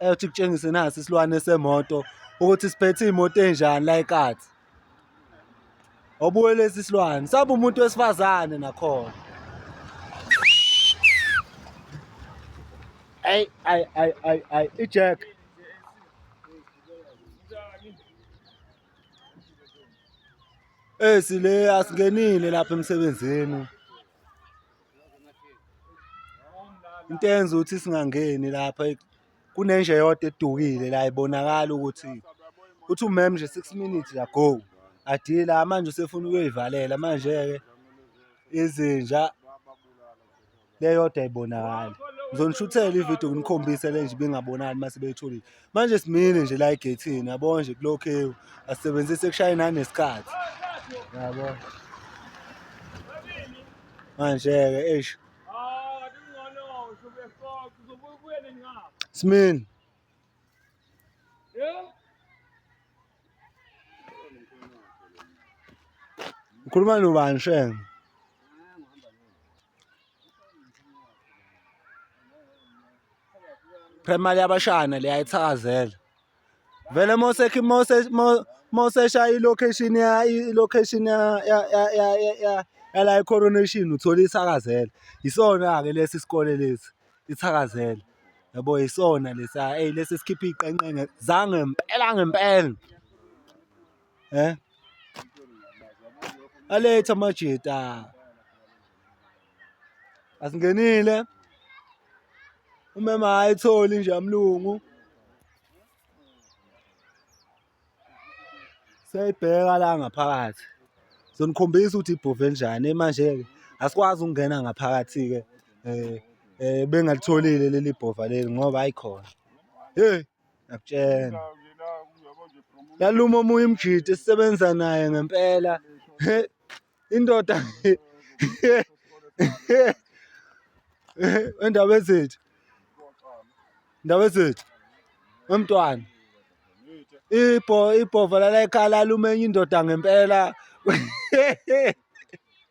eyothi kutshengise nasi isilwane semoto ukuthi siphethe imoto enjani la eKati obuye lesi silwane sabe umuntu wesifazane nakhona ay ay ay ay ay ijack esile asingenile lapha emsebenzini into eyenza ukuthi singangeni lapha kunenje yodwa edukile la ibonakala ukuthi uthi umem nje 6 minutes ago adila manje usefuna ukuyoyivalela manje-ke izinja leyodwa ayibonakali ngizonishuthela ividiyo nginikhombise le nje ibingabonakali uma sebeyitholile manje simile nje la egethini yabo nje kulokhewu asebenzise kushaye nanesikhathi yabo manje-ke eish smini ukhuluma nobani shenge Primary yabashana le ayithakazela. Vele mose mose mose shaya ilocation ya ilocation ya ya ya ya ya la coronation uthola ithakazela. Isona ke lesi sikole lesi ithakazela. Yabo isona lesa hey lesi sikhipha iqenqe zange impela ngempela. Eh? Aletha amajita. Asingenile. Umema ayitholi nje amlungu. Seyibheka la ngaphakathi. Sonikhombisa ukuthi ibhove njani manje ke. Asikwazi ukungena ngaphakathi ke. Eh eh bengaltholile leli bhova leli ngoba ayikhona. Hey ngiyakutshena yaluma omunye umjidi esisebenza naye ngempela indoda endaba ezethu ndaba ezethu emntwana ibho ibhova lala ekhala lumenye indoda ngempela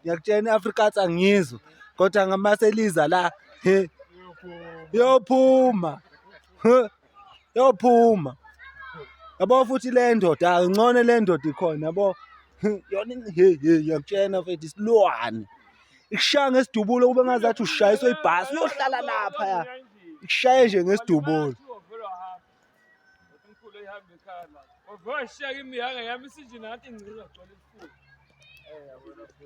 ngiyakutshena i-afrikaans angizwa kodwa ngamase liza la he yophuma yophuma yabo futhi le ndoda ngcono le ndoda ikhona yabo yona he he ngiyakutshena mfethu isilwane ikushaya ngesidubulo kube ngazathi ushayiswa ibhasi uyohlala lapha ya ikushaye nje ngesidubulo Mkhulu ehambe ekhaya la. Ovoshiya kimi yanga yami isinje nathi ngcika gcwele isifuba.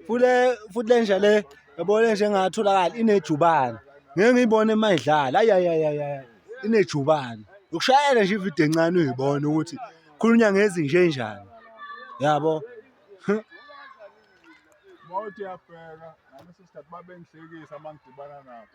Fule futhi lenja le yabona nje ngatholakala inejubane. Ngeke ngiyibone mayidlala. Ay ay ay ay. Inejubane. Ukushayela nje ivideo encane uyibone ukuthi khulunya ngezinje enjani. Yabo. Mawuthi yabheka nami sister babengihlekisa mangidibana nabo.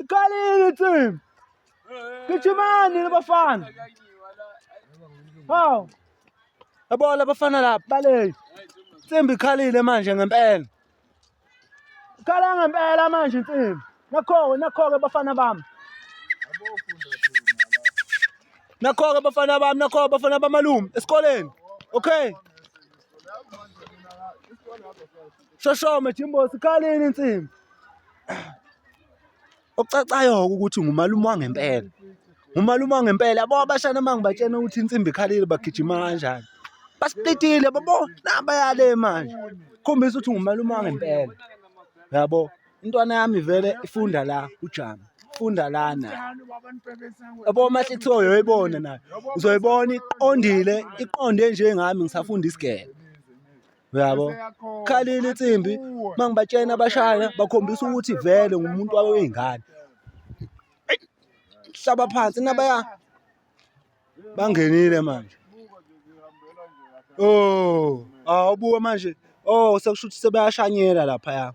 Iqalile team. Gijimani labafana. Haw. Yabo labafana lapha baleki. Tsimbi ikhalile manje ngempela. Ikhala ngempela manje Tsimbi. Nakho nakho ke bafana bami. Nakho ke bafana bami, nakho bafana bamalume esikoleni. Okay. Isikole lapho Shoshome Jimbo sikhaleni insimbi. Okucacayo ukuthi ngumalume wangempela. Ngumalume wangempela yabo abashana mangibatshena ukuthi insimbi ikhalile bagijima kanjani. Basiplitile babo nabayale manje. Khombisa ukuthi ngumalume wangempela. Yabo intwana yami vele ifunda la ujama. Funda lana. Yabo uma kuthiwa uyoyibona nayo. Uzoyibona iqondile, iqonde njengami ngisafunda isigebe. uyabo khalile insimbi uma ngibatshena abashaya bakhombisa ukuthi vele ngumuntu wabe wey'ngane hlaba phansi nabaya bangenile manje o oh, awubuke manje o oh, sekusho ukuthi sebeyashanyela laphaya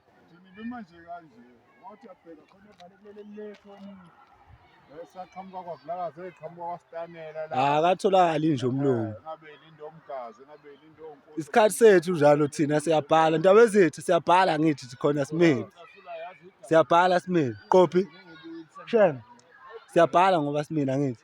Wathi uyabheka khona evale kulele lethu omunye. Esaqhamuka kwaVulakazi eqhamuka kwaStanela la. Ah, akatholakali nje umlungu. Ngabe lindo omgazi, ngabe lindo onkosi. Isikhathi sethu njalo thina siyabhala. Ndaba ezethu siyabhala ngithi khona simile. Siyabhala simile. Qophi. Shem. Siyabhala ngoba simile ngithi.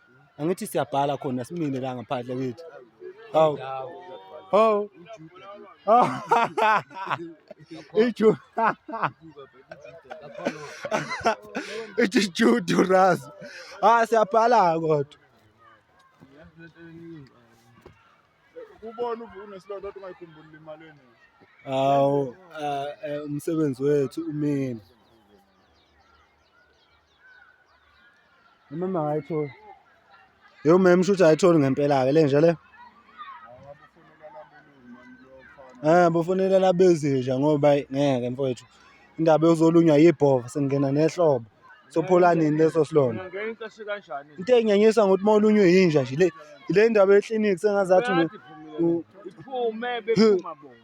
angithi siyabhala khona simine la ngaphandle kithi hawu hawu ichu ithi judu raz ah siyabhala kodwa ubona unesilonda kodwa ungayikhumbuli imali eningi hawu eh, eh, umsebenzi wethu umile Umama akayitholi. Yo mem shuthi ayitholi ngempela ke lenja le. Eh bofonela labezinja ngoba ngeke mfowethu. Indaba yozolunywa yibhova sengena nehlobo. Sophola nini leso silona? Into enginyanyisa ngokuthi uma ulunywe yinja nje le le ndaba ye-clinic sengazathi iphume bephuma bona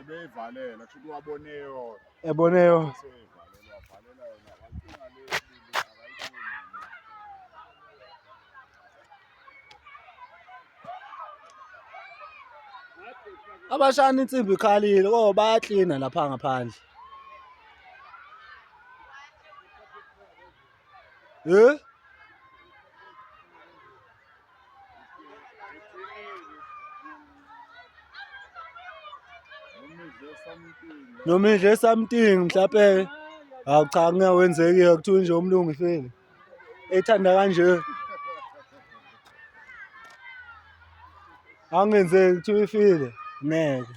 ebeyivalela kusho ukuthi wabone yona ebone yona abashana insimbi ikhalile oh bayaklina lapha ngaphandle Eh? noma idle something mhlawumbe hawu cha ngeke wenzekile kuthiwa nje umlungisile ethanda kanje angenzeki kuthiwa ifile ngeke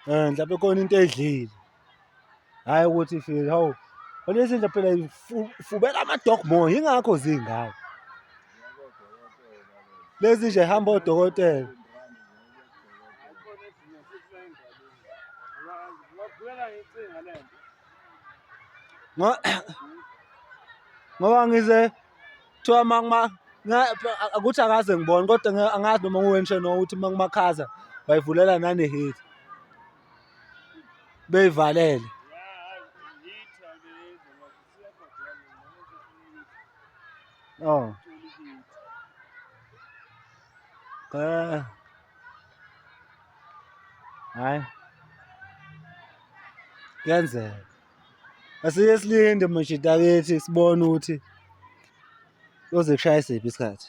Eh mhlawumbe khona into edlile. Hayi ukuthi ifile hawu. Olesi nje phela ifubela ama dog more ingakho zingaka. Lezi nje hamba odokotela. Ngoba ngize kuthiwa uma ukuthi akaze ngibone kodwa angazi noma nguwenshe no ukuthi uma kumakhaza bayivulela nanehit beyivalele oh eh hayi kuyenzeka Asike silinde mashita bethi sibone ukuthi uzokushaya isiphi isikhathi.